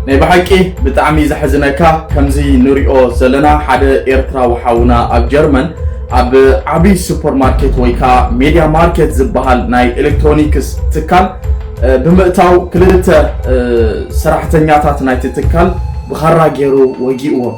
ናይ ብሓቂ ብጣዕሚ ዘሕዝነካ ከምዚ ንሪኦ ዘለና ሓደ ኤርትራዊ ሓውና ኣብ ጀርመን ኣብ ዓብይ ሱፐር ማርኬት ወይ ከዓ ሜድያ ማርኬት ዝበሃል ናይ ኤሌክትሮኒክስ ትካል ብምእታው ክልተ ሰራሕተኛታት ናይቲ ትካል ብኻራ ገይሩ ወጊእዎም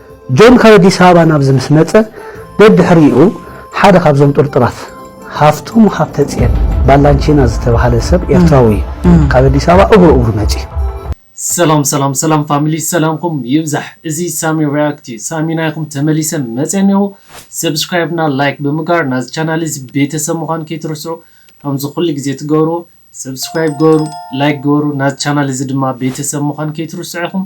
ጆን ካብ ኣዲስ ኣበባ ናብዚ ምስ መጸ ደድሕሪኡ ሓደ ካብዞም ጥርጡራት ሃፍቶም ሃብተጽየን ባላንቺና ዝተባህለ ሰብ ኤርትራዊ እዩ ካብ ኣዲስ ኣበባ እግሩ እግሩ መጺኡ። ሰላም ሰላም ሰላም ፋሚሊ ሰላምኩም ይብዛሕ እዚ ሳሚ ሪኣክት እዩ ሳሚ ናይኩም ተመሊሰ መጼ እኔኹ ሰብስክራይብ እና ላይክ ብምግባር ናዚ ቻናል እዚ ቤተሰብ ምዃን ከይትርስዑ ከምዚ ኩሉ ግዜ ትገብርዎ ሰብስክራይብ ግበሩ ላይክ ግበሩ ናዚ ቻናል እዚ ድማ ቤተሰብ ምዃን ከይትርስዑ ኢኹም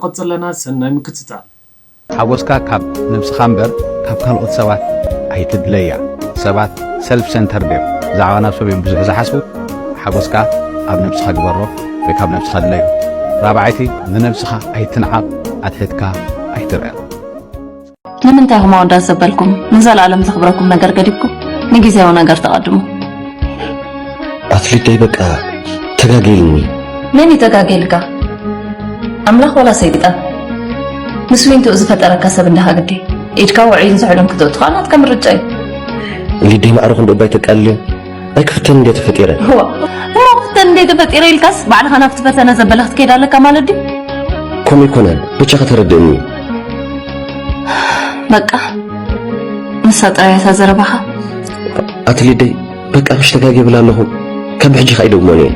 ንቕጽል ኣለና ሰናይ ምክትታል። ሓጎስካ ካብ ነብስኻ እምበር ካብ ካልኦት ሰባት ኣይትድለያ ሰባት ሰልፍ ሰንተርድ እዮም ብዛዕባ ናብ ሰብዮም ብዙሕ ዝሓስቡ ሓጎስካ ኣብ ነብስኻ ግበሮ ወይ ካብ ነብስኻ ድለዮ ራብዓይቲ ንነብስኻ ኣይትንዓቕ ኣትሒትካ ኣይትርኣ። ንምንታይ ኢኹም ኣወዳት ዘበልኩም ንዘለኣለም ዘኽብረኩም ነገር ገዲፍኩም ንግዜያዊ ነገር ተቐድሙ? ኣፍሊጠይ በቃ ተጋጌልኒ። መን እዩ ተጋጌልካ? ኣምላኽ ዋላ ሰይጣን? ምስ ዊንትኡ ዝፈጠረካ ሰብ እንዳ ሃግዲ ኢድካ ውዑይን ዝሑልን ክትእትኻ ናትካ ምርጫ እዩ። ሊደይ ማዕረ ክንደይ እባ ይተቃልል ኣይ ክፍተን እንዴ ተፈጢረ እሞ ክፍተን እንዴ ተፈጢረ ኢልካስ ባዕልኻ ናብቲ ፈተነ ዘበለ ክትከይድ ኣለካ ማለት ድዩ ከምኡ ኣይኮነን ብቻ ከተረድእኒ በቃ ንሳ ጥራያታ ዘረባኻ ኣትሊደይ በቃ ምሽ ተጋጊ ብላ ኣለኹ ካብ ሕጂ ከይደግሞን እየ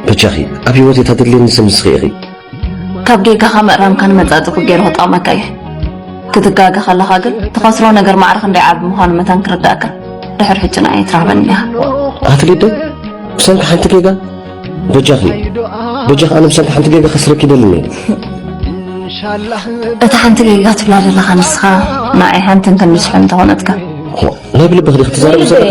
በጃኺ ኣብ ህይወት እታ ድልየኒ ስምስኺ ኢኺ ካብ ጌጋኻ ምእራምካ ንመጻጽ ገይሩ ክጠቕመካ እዩ ክትጋገ ከለኻ ግን ትኸስሮ ነገር ማዕረ ክንደይ ዓቢ ምዃኑ መታን ክርዳእካ ድሕሪ ሕጂ ንኣይ ትረኽበኒ ኢኻ ኣትሊደ ብሰንኪ ሓንቲ ጌጋ በጃኺ በጃኺ ኣነ ብሰንኪ ሓንቲ ጌጋ ከስረኪ ይደልኒ እታ ሓንቲ ጌጋ ትብላ ዘለኻ ንስኻ ንኣይ ሓንትን ክንስሑ እንተኾነትካ ናይ ብልቢ ክዲ ክትዛረብ ዘለኺ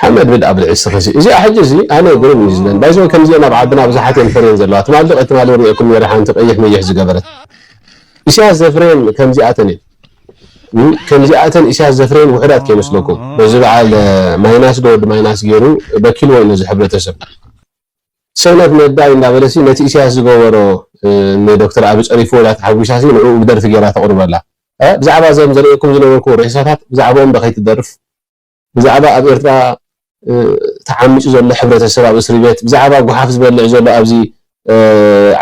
ሓመድ ብልኣ ብልዒ እስኺ እዚ እዚኣ ሕጂ እዚ ኣነ ግርም እዩ ዝብለኒ ባይዘ ከምዚኦም ኣብ ዓድና ብዙሓት እየን ፈርየን ዘለዋ ትማሊ ትማሊ ሪኤኩም ነይረ ሓንቲ ቀይሕ መይሕ ዝገበረት ኢሳያስ ዘፍረየን ከምዚኣተን እየን ከምዚኣተን ኢሳያስ ዘፍረየን ውሑዳት ከይመስለኩም በዚ በዓል ማይናስ ዶ ወዲ ማይናስ ጌሩ በኪልዎዩ ነዚ ሕብረተሰብ ሰነፍ ነዳይ እንዳበለሲ ነቲ ኢሳያስ ዝገበሮ ንዶክተር ኣቢ ጸሪፍዎ ኢላ ተሓጒሳሲ ንዕኡ ብደርፊ ጌራ ተቕርበላ ብዛዕባ ዘም ዘርእየኩም ዝነበርኩ ሬሳታት ብዛዕብኦም ዶ ከይትደርፍ ብዛዕባ ኣብ ኤርትራ ተዓሚጹ ዘሎ ሕብረተሰብ ኣብ እስሪቤት ብዛዕባ ጉሓፍ ዝበልዕ ዘሎ ኣብዚ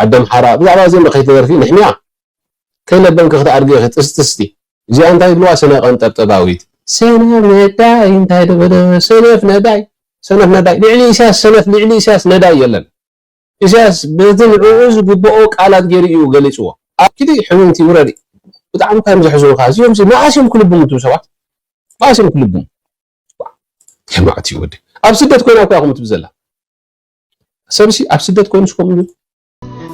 ዓደምሓራ ብዛዕባ እዚኦም ዶ ከይትደርፊ ንሕምያ ከይለበምኪ ክትኣድጊ ኢኺ ጥስጥስቲ እዚኣ እንታይ ይብልዋ ስነ ቀንጠብጠባዊት። ሰነፍ ነዳይ እንታይ ዶ በለ ሰነፍ ነዳይ ሰነፍ ነዳይ ልዕሊ ኢሳያስ ሰነፍ ልዕሊ ኢሳያስ ነዳይ የለን። ኢሳያስ በቲ ንዕኡ ዝግብኦ ቃላት ጌሩ እዩ ገሊጽዎ። ኣብ ኪዲ ሕምምቲ ውረድ ብጣዕሚ እኳ እዮም ዘሕዝኑኻ እዚኦምሲ መኣስ እዮም ክልብሙ እቱም ሰባት መኣስ እዮም ክልብሙ የማእቲ ወዲ ኣብ ስደት ኮይና እኳ ከምትብ ዘላ ሰብሲ ኣብ ስደት ኮይኑስ ከምኡ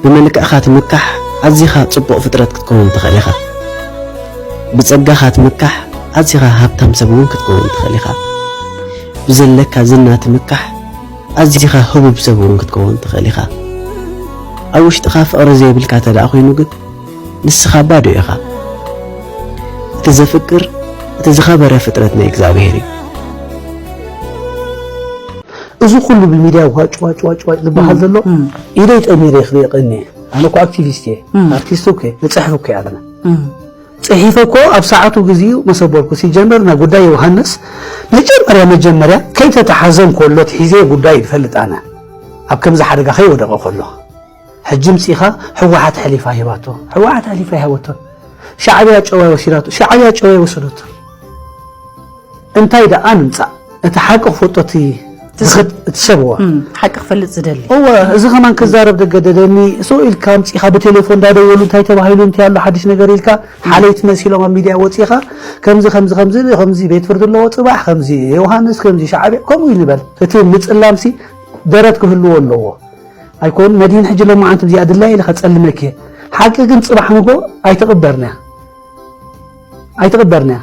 ብመልክዕኻ ትምካሕ ኣዚኻ ጽቡቕ ፍጥረት ክትከውን ትኽእል ኢኻ ብጸጋኻ ትምካሕ ኣዚኻ ሃብታም ሰብ እውን ክትከውን ትኽእል ኢኻ ብዘለካ ዝና ትምካሕ ኣዚኻ ህቡብ ሰብ እውን ክትከውን ትኽእል ኢኻ። ኣብ ውሽጥኻ ፍቕሪ ዘይብልካ እንተደኣ ኰይኑ ግን፣ ንስኻ ባዶ ኢኻ። እቲ ዘፍቅር እቲ ዝኸበረ ፍጥረት ናይ እግዚኣብሄር እዩ። እዚ ኩሉ ብሚድያ ዋጭ ዋጭ ዋጭ ዋጭ ዝበሃል ዘሎ ኢደይ ጠሚረ ክሪኦ ቀንየ ኣነ እኮ ኣክቲቪስት እየ ኣርቲስት እኮ እየ ንፅሕፍ እኮ ኣለና ጺሒፈ እኮ ኣብ ሰዓቱ ግዚኡ መሰበርኩ ሲጀመር ናይ ጉዳይ ዮውሃንስ መጀመርያ መጀመርያ ከይተታሓዘ እንኮሎ ትሒዘ ጉዳዩ ይፈልጥ ኣነ ኣብ ከምዚ ሓደጋ ከይወደቀ ኮሎ ሕጂ ምጺኻ ሕዋሓት ሐሊፋ ሂባቶ ሕዋሓት ሐሊፋ ኣይሃበቶን ሻዕብያ ጨዋይ ወሲዳቶ ሻዕብያ ጨዋይ ወሰደቶ እንታይ ደኣ ንምጻእ እቲ ሓቂ ክፈልጦ እቲ ዝኸድ እቲ ሰብ እዋ እም፣ ሓቂ ክፈልጥ ዝደሊ እወ እዚ ከማን ክዛረብ ደገደደኒ ሰው ኢልካ ኣምፂኻ ብቴሌፎን እንዳደወሉ እንታይ ተባሂሉ እንታይ ኣሎ ሓዲሽ ነገር ኢልካ ሓለይቲ መሲሎም ኣብ ሚድያ ወፂኻ ከምዚ ከምዚ ከምዚ ኢሉ፣ ከምዚ ቤት ፍርዲ ኣለዎ ፅባሕ ከምዚ ዮሃንስ ከምዚ ሻዕብያ ከምኡ እዩ ንበል እቲ ምፅላምሲ ደረት ክህልዎ ኣለዎ ኣይኮን መድህን ሕጂ ሎማዓንቲ ብዚኣ ድላይ ኢለ ከፀልመኪ እየ ሓቂ ግን ፅባሕ ንጎ ኣይትቕበርንያ ኣይትቕበርንያ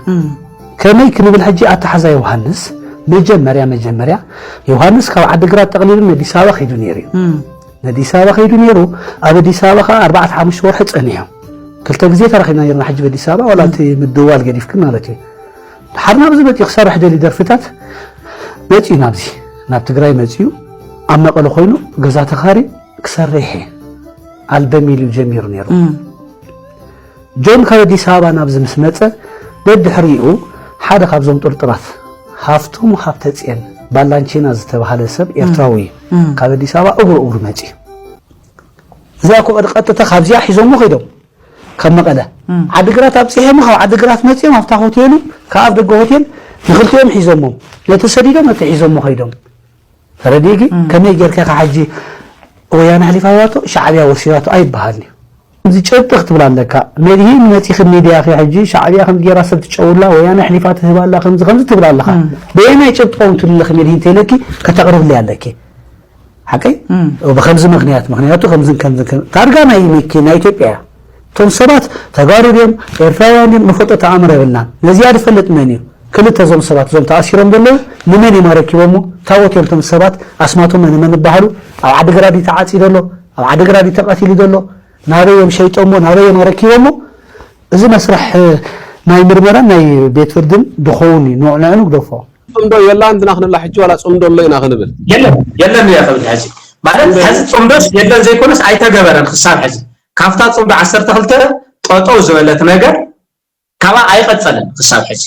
ከመይ ክንብል ሕጂ ኣተሓዛ ዮሃንስ መጀመርያ መጀመርያ ዮሃንስ ካብ ዓዲግራት ጠቕሊሉ ነዲስ ኣበባ ከይዱ ነይሩ እዩ ነዲስ ኣበባ ከይዱ ነይሩ ኣብ ኣዲስ ኣበባ ከዓ ኣርባዕተ ሓሙሽተ ወርሒ ፀኒሑ ክልተ ግዜ ተራኺብና ነርና ሕጂ በዲስ ኣበባ ዋላ እቲ ምድዋል ገዲፍክ ማለት እዩ ድሓር ናብዚ መፅኡ ክሰርሕ ደሊ ደርፍታት መፅኡ ናብዚ ናብ ትግራይ መፅኡ ኣብ መቐለ ኮይኑ ገዛ ተኻሪ ክሰርሕ ኣልበም ኢሉ ጀሚሩ ነይሩ ጆን ካብ ኣዲስ ኣበባ ናብዚ ምስ መጸ ደድሕሪኡ ሓደ ካብዞም ጥርጡራት ሃፍቶም ሃብተጽየን ባላንቺና ዝተባህለ ሰብ ኤርትራዊ እዩ ካብ ኣዲስ ኣበባ እግሩ እግሩ መጺኡ እዚኣ እኮ ቀጥታ ካብዚኣ ሒዞሞ ከይዶም ካብ መቐለ ዓዲግራት ኣብፂሐሞ ካብ ዓዲግራት መፂኦም ኣብታ ሆቴሉ ካብ ኣፍ ደገ ሆቴል ንክልቲኦም ሒዞሞም ነቲ ሰዲዶም ነቲ ሒዞሞ ከይዶም ተረዲእኪ ከመይ ጌርካ ኢኻ ሕጂ ወያነ ኣሕሊፋቶ ሻዕብያ ወሲዳቶ ኣይበሃልን እዩ እዚ ጭብጢ ክትብል ኣለካ መድሂን መጺኺ ሚድያኺ ሕጂ ሻዕብያ ከምዚ ጌራ ሰብ ትጨውላ ወያነ ኣሕሊፋ ትህብ ኣላ ከምዚ ከምዚ ትብል ኣለኻ በየናይ ጭብጢ ቆም ትብልኺ መድሂን ተይለኪ ከተቕርብለይ ኣለኪ ሓቀይ ብከምዚ ምክንያት ምክንያቱ ከምዝን ከምዝን ታርጋ ናይ ሚኪ ናይ ኢትዮጵያ እቶም ሰባት ተጋሩ ድዮም ኤርትራውያን ድዮም ንፈልጦ ተኣምር የብልናን። ነዚኣ ዝፈልጥ መን እዩ? ክልተ እዞም ሰባት እዞም ተኣሲሮም ዘለዉ ንመን እዮም ኣረኪቦሞ? ታቦት እዮም እቶም ሰባት ኣስማቶም መን መን ይበሃሉ? ኣብ ዓዲግራት ድዩ ተዓጺዶ ኣሎ? ኣብ ዓዲግራት ድዩ ተቐቲሉ ዘሎ? ናበይ እዮም ሸይጦሞ? ናበይ እዮም ኣረኪቦሞ? እዚ መስርሕ ናይ ምርመራን ናይ ቤት ፍርድን ድኸውን እዩ። ንዕኡ ንግደፎ። ጽምዶ የላን ድና ክንብላ ሕጂ ዋላ ጽምዶ ኣሎ ኢና ክንብል? የለን የለን እየ ክብል ሕዚ ማለት ሕዚ ጽምዶስ የለን ዘይኮነስ ኣይተገበረን ክሳብ ሕዚ ካብታ ፅምዶ ዓሰርተ ክልተ ጠጠው ዝበለት ነገር ካብኣ ኣይቐፀለን ክሳብ ሕዚ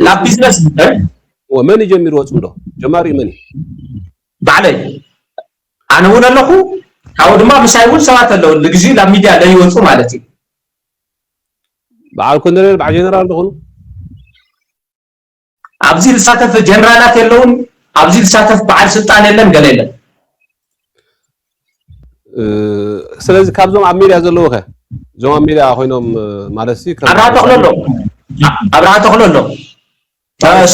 ናብ ቢዝነስ መን ጀሚርዎ ፅምዶ ጀማሪኡ መን ባዕለይ ኣነ እውን ኣለኹ ካብኡ ድማ ምሳይ እውን ሰባት ኣለዉ ንግዚኡ ናብ ሚድያ ለይወፁ ማለት እዩ በዓል ኮሎኔል በዓል ጀነራል ዝኾኑ ኣብዚ ዝሳተፍ ጀነራላት የለውን ኣብዚ ዝሳተፍ በዓል ስልጣን የለን ገለ የለን ስለዚ ካብዞም ኣብ ሜድያ ዘለዉ ከ እዞም ኣብ ሜድያ ኮይኖም ማለት ሲ ኣብርሃ ተኽሎ ኣሎ ኣብርሃ ተኽሎ ኣሎ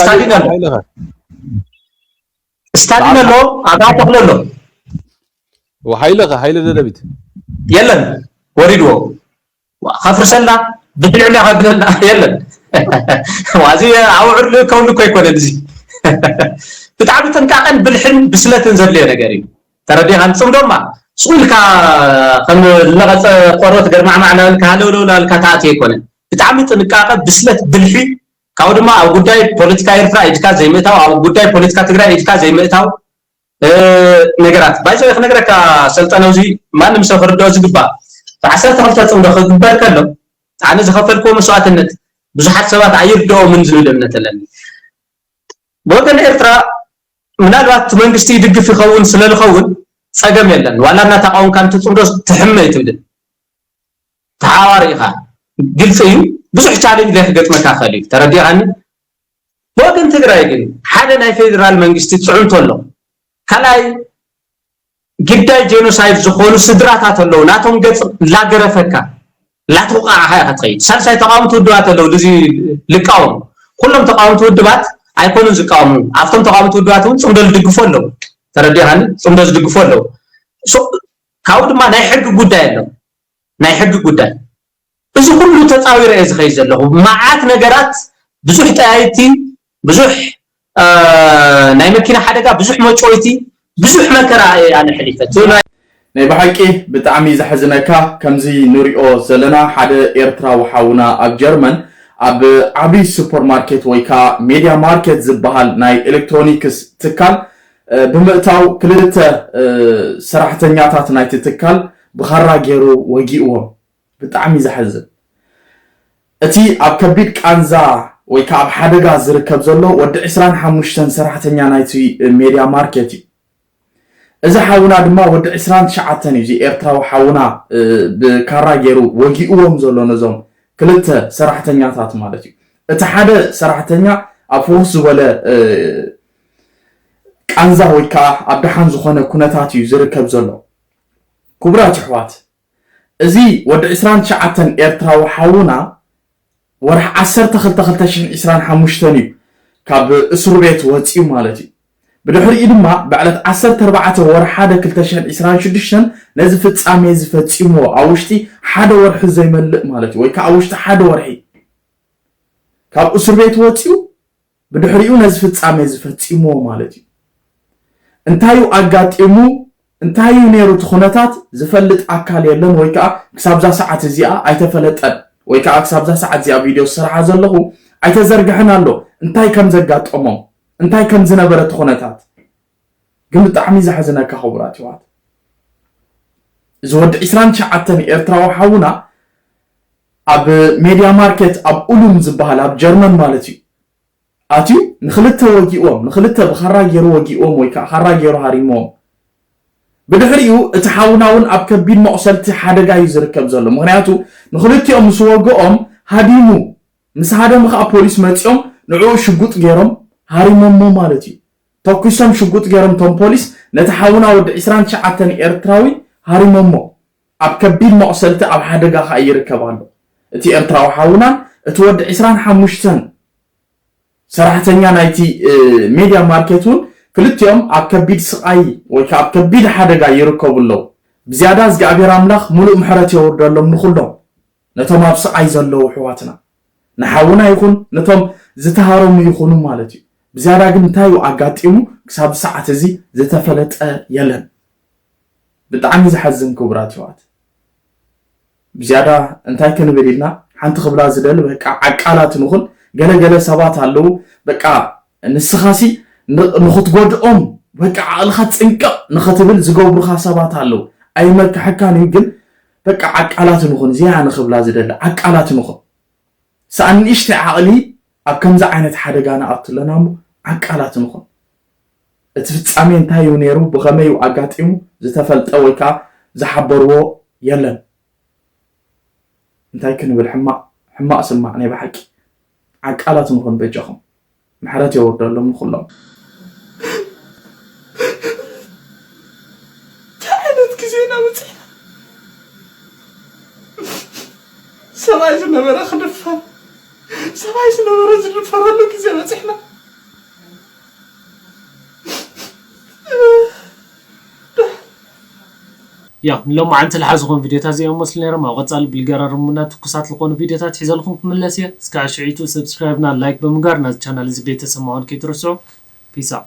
ስታሊን ኣሎ ስታሊን ኣሎ ኣብርሃ ተኽሎ ኣሎ ወሓይለ ከ ሓይለ ደደቢት የለን ወሪድዎ ከፍርሰልና ብልዕና ከብለና የለን ዋዚ ኣውዕር ልእከውሉ እኮ ኣይኮነን እዚ ብጣዕሚ ጥንቃቐን ብልሕን ብስለትን ዘድልዮ ነገር እዩ ተረዲኻን ፅምዶማ ስኡ ኢልካ ከም ዝነቐፀ ቆርበት ገርማዕማዕ ናበልካ ሃለውለው ናበልካ ተኣትዮ ኣይኮነን ብጣዕሚ ጥንቃቐ ብስለት ብልሒ ካብኡ ድማ ኣብ ጉዳይ ፖለቲካ ኤርትራ ኢድካ ዘይምእታው ኣብ ጉዳይ ፖለቲካ ትግራይ ኢድካ ዘይምእታው ነገራት ባይ ዘወይ ክነግረካ ሰልጠነ እዚ ማንም ሰብ ክርድኦ ዝግባእ ብዓሰርተ ክልተ ጽምዶ ክግበር ከሎ ኣነ ዝኸፈልክዎ መስዋእትነት ብዙሓት ሰባት ኣይርድኦምን ዝብል እምነት ኣለኒ ብወገን ኤርትራ ምናልባት መንግስቲ ይድግፍ ይኸውን ስለ ዝኸውን ጸገም የለን ዋላ እናተቃወምካ ንትጽምዶ ትሕመ ይትብልን ተሓዋሪ ኢኻ ግልጺ እዩ ብዙሕ ቻሌንጅ ዘይክገጥመካ ክእል እዩ ተረዲኻኒ ብወገን ትግራይ ግን ሓደ ናይ ፌዴራል መንግስቲ ፅዕንቶ ኣሎ። ካልኣይ ግዳይ ጀኖሳይድ ዝኾኑ ስድራታት ኣለዉ ናቶም ገፅ ላገረፈካ ላትውቃዕኻ ኢኻ ትኸይድ። ሳልሳይ ተቃወምቲ ውድባት ኣለዉ ልዚ ልቃወሙ ኩሎም ተቃወምቲ ውድባት ኣይኮኑን ዝቃወሙ ኣብቶም ተቃወምቲ ውድባት እውን ፅምዶ ዝድግፉ ኣለዉ ተረዲኻኒ ፅምዶ ዝድግፉ ኣለዉ ካብኡ ድማ ናይ ሕጊ ጉዳይ ኣሎ ናይ ሕጊ ጉዳይ እዚ ኩሉ ተጻዊረ እየ ዝከይድ ዘለኩ ማዓት ነገራት ብዙሕ ጠያይቲ ብዙሕ ናይ መኪና ሓደጋ ብዙሕ መጭወይቲ ብዙሕ መከራ እየ ኣነ ሐሊፈ እቲ ናይ ናይ ብሓቂ ብጣዕሚ ዘሕዝነካ ከምዚ ንሪኦ ዘለና ሓደ ኤርትራዊ ሓውና ኣብ ጀርመን ኣብ ዓቢ ሱፐር ማርኬት ወይ ከኣ ሜድያ ማርኬት ዝብሃል ናይ ኤለክትሮኒክስ ትካል ብምእታው ክልተ ሰራሕተኛታት ናይቲ ትካል ብኻራ ጌሩ ወጊእዎም ብጣዕሚ እዩ ዘሕዝን እቲ ኣብ ከቢድ ቃንዛ ወይ ከኣ ኣብ ሓደጋ ዝርከብ ዘሎ ወዲ ዕስራን ሓሙሽተን ሰራሕተኛ ናይቲ ሜድያ ማርኬት እዩ እዚ ሓውና ድማ ወዲ ዕስራን ትሽዓተን እዩ እዚ ኤርትራዊ ሓውና ብካራ ገይሩ ወጊእዎም ዘሎ ነዞም ክልተ ሰራሕተኛታት ማለት እዩ እቲ ሓደ ሰራሕተኛ ኣብ ፍኹስ ዝበለ ቃንዛ ወይ ከኣ ኣብ ደሓን ዝኾነ ኩነታት እዩ ዝርከብ ዘሎ ክቡራት ይሕዋት እዚ ወዲ ዕስራን ትሽዓተን ኤርትራዊ ሓውና ወርሒ ዓሰርተ ክልተ ክልተ ሽሕን ዕስራን ሓሙሽተን እዩ ካብ እሱርቤት ወጺኡ ማለት እዩ። ብድሕሪኡ ድማ ብዕለት ዓሰርተ ኣርባዕተ ወርሒ ሓደ ክልተ ሽሕን ዕስራን ሽዱሽተን ነዚ ፍጻሜ እዚ ፈጺምዎ ኣብ ውሽጢ ሓደ ወርሒ ዘይመልእ ማለት እዩ ወይ ከኣ ኣብ ውሽጢ ሓደ ወርሒ ካብ እሱርቤት ወጺኡ ብድሕሪኡ ነዚ ፍጻሜ እዚ ፈጺምዎ ማለት እዩ። እንታይ እዩ ኣጋጢሙ፣ እንታይ እዩ ነይሩ እቲ ኩነታት ዝፈልጥ ኣካል የለን ወይ ከኣ ክሳብዛ ሰዓት እዚኣ ኣይተፈለጠን ወይ ከኣ ክሳብዛ ሰዓት እዚኣ ቪድዮ ዝሰርሓ ዘለኹ ኣይተዘርግሐን ኣሎ እንታይ ከም ዘጋጠሞም እንታይ ከም ዝነበረ እቲ ኩነታት ግን ብጣዕሚ ዘሕዝነካ ክቡራት የሕዋት እዚ ወዲ ዕስራን ትሽዓተን ኤርትራዊ ሓውና ኣብ ሜድያ ማርኬት ኣብ ኡሉም ዝበሃል ኣብ ጀርመን ማለት እዩ ኣትዩ ንክልተ ወጊእዎም ንክልተ ብኻራ ገይሩ ወጊእዎም ወይ ከዓ ካራ ገይሩ ሃሪምዎም ብድሕሪኡ እቲ ሓውና እውን ኣብ ከቢድ መቑሰልቲ ሓደጋ እዩ ዝርከብ ዘሎ ምክንያቱ ንክልቲኦም ምስ ወግኦም ሃዲሙ ምስ ሃደሙ ከዓ ፖሊስ መፂኦም ንዕኡ ሽጉጥ ገይሮም ሃሪሞሞ ማለት እዩ ተኩሶም ሽጉጥ ጌሮም ቶም ፖሊስ ነቲ ሓውና ወዲ ዕስራን ትሽዓተን ኤርትራዊ ሃሪሞሞ ኣብ ከቢድ መቁሰልቲ ኣብ ሓደጋ ከኣ ይርከብ ኣሎ እቲ ኤርትራዊ ሓውናን እቲ ወዲ ዕስራን ሓሙሽተን ሰራሕተኛ ናይቲ ሜድያ ማርኬት ውን ክልቲኦም ኣብ ከቢድ ስቃይ ወይ ከኣ ኣብ ከቢድ ሓደጋ ይርከቡ ኣለዉ ብዝያዳ እዝግኣብሄር ኣምላኽ ሙሉእ ምሕረት የውርደሎም ንኩሎም ነቶም ኣብ ስቓይ ዘለዉ ኣሕዋትና፣ ንሓውና ይኹን ነቶም ዝተሃረሙ ይኹኑ ማለት እዩ። ብዝያዳ ግን እንታይ እዩ ኣጋጢሙ ክሳብ ሰዓት እዚ ዝተፈለጠ የለን። ብጣዕሚ ዘሐዝን ክቡራት ኣሕዋት። ብዝያዳ እንታይ ክንብል ኢልና ሓንቲ ክብላ ዝደሊ በቃ ዓቃላት ንኹን። ገለ ገለ ሰባት ኣለዉ በቃ ንስኻሲ ንኽትጎድኦም በቃ ዓቕልኻ ጥንቅቕ ንኽትብል ዝገብሩኻ ሰባት ኣለዉ። ኣይመክሐካን እዩ ግን በቃ ዓቃላት ንኹን እዚ ኣነ ክብላ ዝደሊ ዓቃላት ንኹን ሳኣን ንእሽተይ ዓቕሊ ኣብ ከምዚ ዓይነት ሓደጋ ንኣቱ ኣለና እሞ ዓቃላት ንኹን እቲ ፍጻሜ እንታይ እዩ ነይሩ ብኸመይ እዩ ኣጋጢሙ ዝተፈልጠ ወይ ከኣ ዝሓበርዎ የለን እንታይ ክንብል ሕማቕ ሕማቕ ስማዕ ናይ ብሓቂ ዓቃላት ንኹን በጃኹም። ምሕረት የውርደሎም ንኩሎም። እንታይ ዓይነት ግዜ ኢና በጺሕና ሰብኣይ ዝነበረ ክድፈር ሰብኣይ ዝነበረ ዝድፈረሉ ግዜ በጺሕና። ያው ንሎማዓንቲ ልሓዝኹም ቪድዮታት እዚኦም መስሉ ነይሮም ኣብ ቐፃሊ ብልገራርሙና ትኩሳት ልኾኑ ቪድዮታት ሒዘልኹም ክምለስ እየ እስካዕ ሽዒቱ subscribe እና like ብምግባር ናዚ ቻናል እዚ ቤተሰብ ምዃን ከይትርስዑ peace out